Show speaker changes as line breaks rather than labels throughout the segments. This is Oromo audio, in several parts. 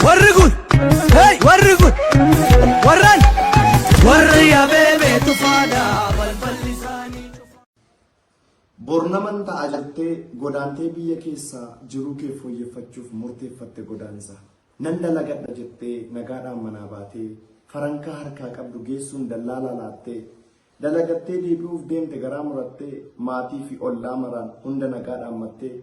Warri kun, hey, warri kun, warran, warri abeebee tufaadha balballi isaanii. Bornaman ta'a jettee godaantee biyya keessa jiruu kee fooyyeffachuuf murteeffatte godaansa. Nan dalagadha jettee nagaadhaan manaa baatee farankaa harkaa qabdu geessuun dallaalaa laattee dalagattee deebi'uuf deemte garaa murattee maatii fi ollaa maraan hunda nagaadhaan mattee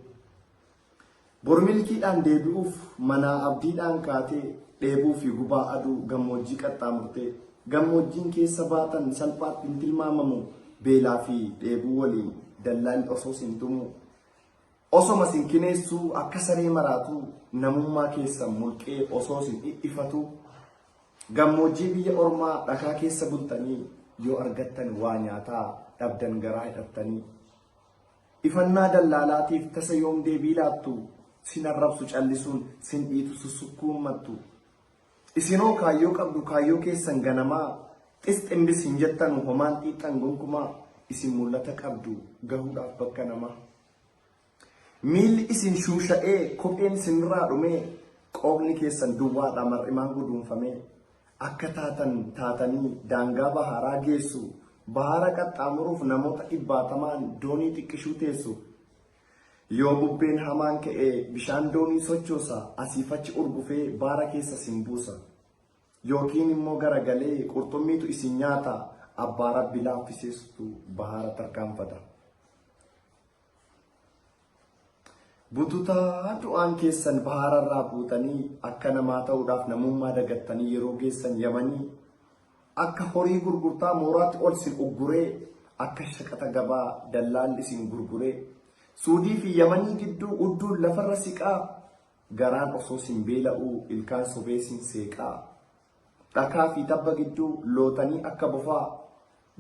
Bor milkiidhaan deebi'uuf manaa abdiidhaan kaatee dheebuu fi gubaa aduu gammoojjii qaxxaamurtee gammoojjiin keessa baatan salphaatti hin tilmaamamu beelaa fi dheebuu waliin dallaan osoo sin tumuu osoma sin kineessuu akka saree maraatuu namummaa keessan mulqee osoo sin dhidhifatuu gammoojjii biyya ormaa dhakaa keessa bultanii yoo argattan waa nyaataa dhabdan garaa hidhattanii Ifannaa dallaalaatiif tasa yoom deebii laattu? Sin arrabsu callisuun, sin dhiitu sussukkuun mattu. Isin hoo kaayyoo qabdu kaayyoo keessan ganamaa, xis ximbis hin jettanu homaan xiixxan gonkumaa, isin mul'ata qabdu gahuudhaaf bakka namaa. Miilli isin shuusha'ee, kopheen isinirraa dhumee, qoobni keessan duwwaadha mar'imaan guduunfamee. akka taatan taatanii daangaa bahaaraa geessu, bahaara qaxxaamuruuf namoota dhibbaatamaan doonii xiqqishuu teessu. Yoo bubbeen hamaan ka'e bishaan doonii sochoosa, asiif achi urgufee baara keessa isin buusa. Yookiin immoo garagalee qurxummiitu isin nyaata, abbaa Rabbi laaffiseesutu bahaara tarkaanfata. Bututaa du'aan keessan bahaararraa buutanii akka namaa ta'uudhaaf namummaa dagattanii yeroo geessan yamanii akka horii gurgurtaa mooraatti ol sin ugguree akka shaqaxa gabaa dallaalli isin gurguree suudii fi yamanii gidduu udduun lafarra siqaa garaan osoo sin beela'uu ilkaan sobee sin seeqaa dhakaa fi tabba gidduu lootanii akka bofaa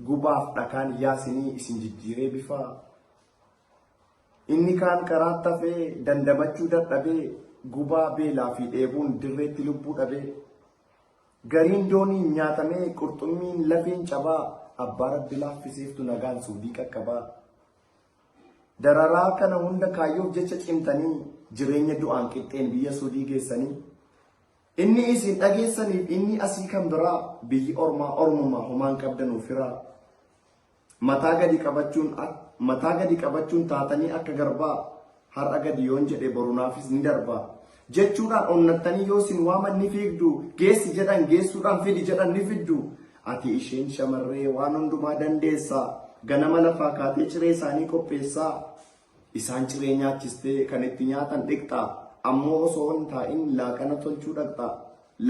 Gubaaf dhakaan yaa sinii isin jijjiiree bifaa. Inni kaan karaatti hafee dandamachuu dadhabee gubaa beelaa fi dheebuun dirreetti lubbuu dhabee. Gariin dooniin nyaatamee qurxummiin lafeen cabaa abbaa rabbi laaffiseeftu nagaan suudii qaqqabaa. Dararaa kana hunda kaayyoof jecha cimtanii jireenya du'aan qixxeen biyya suudii geessanii. Inni isin dhageessaniif inni asii kan biraa biyyi ormaa ormumaa homaa hin qabdanuu firaa mataa gadi qabachuun ak- mataa gadi qabachuun taatanii akka garbaa har'a gadi yoon jedhe borunaafis ni darbaa jechuudhaan onnattanii yoo isin waaman ni fiigdu geessi jedhan geessuudhaan fidi jedhan ni fiddu ati isheen shamarree waan hundumaa dandeessaa ganama lafaa kaatee ciree isaanii qopheessaa Isaan ciree nyaachistee kan itti nyaatan dhiqxaa? Ammoo osoo hin taa'in laaqana tolchuu dhaqxaa?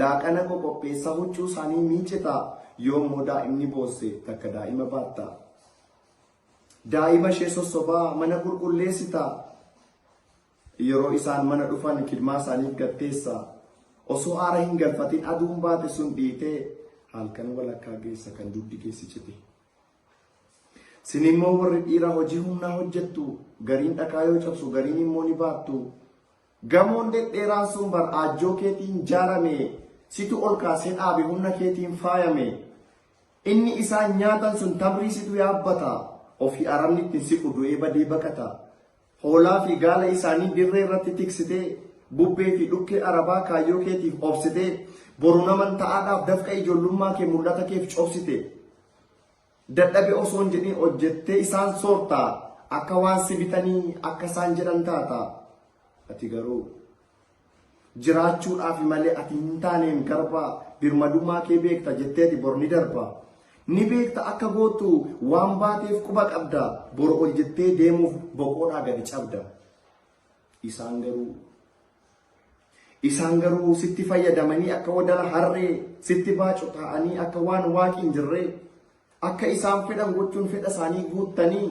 Laaqana qoqopheessaa huccuu isaanii miicitaa? Yoo immoo daa'imni boosse takka daa'ima baattaa? Daa'ima ishee sossobaa mana qulqulleessitaa? Yeroo isaan mana dhufan kidmaa isaaniif gatteessaa? Osoo aara hin galfatin aduun baate sun dhiitee halkan walakkaa geessa kan dugdi keessi cite. Sin immoo warri dhiiraa hojii humnaa hojjettu, gariin dhakaa yoo cabsu gariin immoo ni baattu. Gamoon dhedheeraan sun bar aajjoo keetiin jaarame, situ ol kaasee dhaabe humna keetiin faayame. Inni isaan nyaatan sun tamrii situ yaabbata, ofii arabni ittiin siqu du'ee badee baqata. Hoolaa fi gaala isaanii dirree irratti tiksitee, bubbee fi dhukkee arabaa kaayyoo keetiif obsitee, boru naman ta'aadhaaf dafqa ijoollummaa kee mul'ata keef cobsite. Dadhabe osoo hin jedhin hojjettee isaan soorta, akka waan si bitanii akka isaan jedhan taata. Ati garuu jiraachuudhaafi malee ati hin taaneen garbaa birmadummaa kee beekta jetteeti bor ni darba. Ni beekta akka gootu waan baateef quba qabda bor ol jettee deemuuf boqoodhaa gadi cabda. Isaan garuu isaan garuu sitti fayyadamanii akka wadala harree sitti baacu taa'anii akka waan waaqi hin jirree akka isaan fedhan gochuun fedha isaanii guuttanii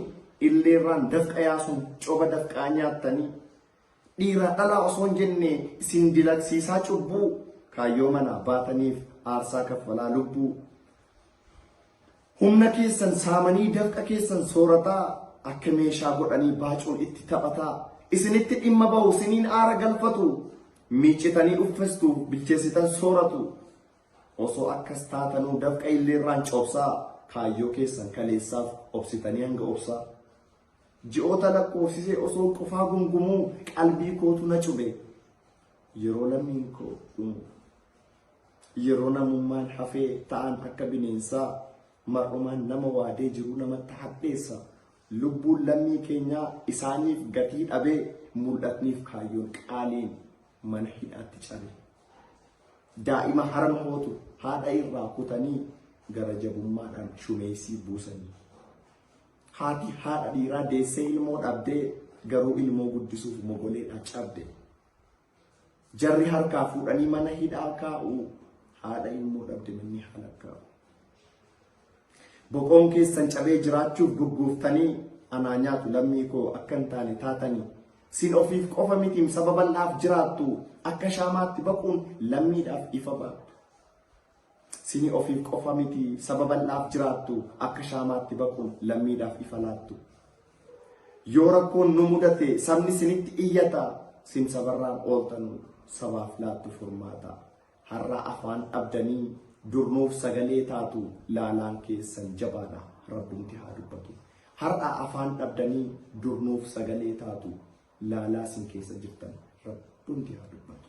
illeerraan dafqa yaasuun coba dafqaa nyaattanii Dhiiraa dhalaa osoo hin jenne isin dilagsiisaa cubbuu kaayyoo manaa baataniif aarsaa kaffalaa lubbuu. Humna keessan saamanii dafqa keessan soorataa akka meeshaa godhanii baacuun itti taphataa isinitti dhimma bahu siniin aara galfatu miicitanii uffestu bilcheessitan sooratu osoo akkas taatanuu dafqa illeerraan cobsaa kaayyoo keessan kaleessaaf obsitanii hanga obsaa. Ji'oota lakkoofsisee osoon qofaa gumgumuu qalbii kootu na cube. Yeroo lammiin koo dhumu. Yeroo namummaan hafee ta'an akka bineensaa mar'umaan nama waadee jiruu namatti hadheessa. Lubbuun lammii keenyaa isaaniif gatii dhabee mul'atniif kaayyoon qaaliin mana hidhaatti cabe. Daa'ima harma hootu haadha irraa kutanii gara jabummaadhaan shumeessii buusanii. Haati haadha dhiiraa deessee ilmoo dhabdee garuu ilmoo guddisuuf mogoleedha cabde. Jarri harkaa fuudhanii mana hidhaa kaa'u haadha ilmoo dhabde manni haala kaa'u. Boqoon keessan cabee jiraachuuf gurguuftanii anaa nyaatu lammii koo akka hin taane taatanii sin ofiif qofa mitiim saba bal'aaf jiraattu akka shaamaatti baquun lammiidhaaf ifa baattu. Sini ofiif qofa miti saba bal'aaf jiraattu akka shaamaatti baquun lammiidhaaf ifa laattu. Yoo rakkoon nu mudate sabni sinitti iyyata sin sabarraan ooltanu sabaaf laattu furmaata. Har'aa afaan dhabdanii dur nuuf sagalee taatu laalaan keessan jabaadha rabbumti haa dubbatu. Har'aa afaan dhabdanii dur nuuf sagalee taatu laalaa sin keessa jirtan rabbumti haa dubbatu.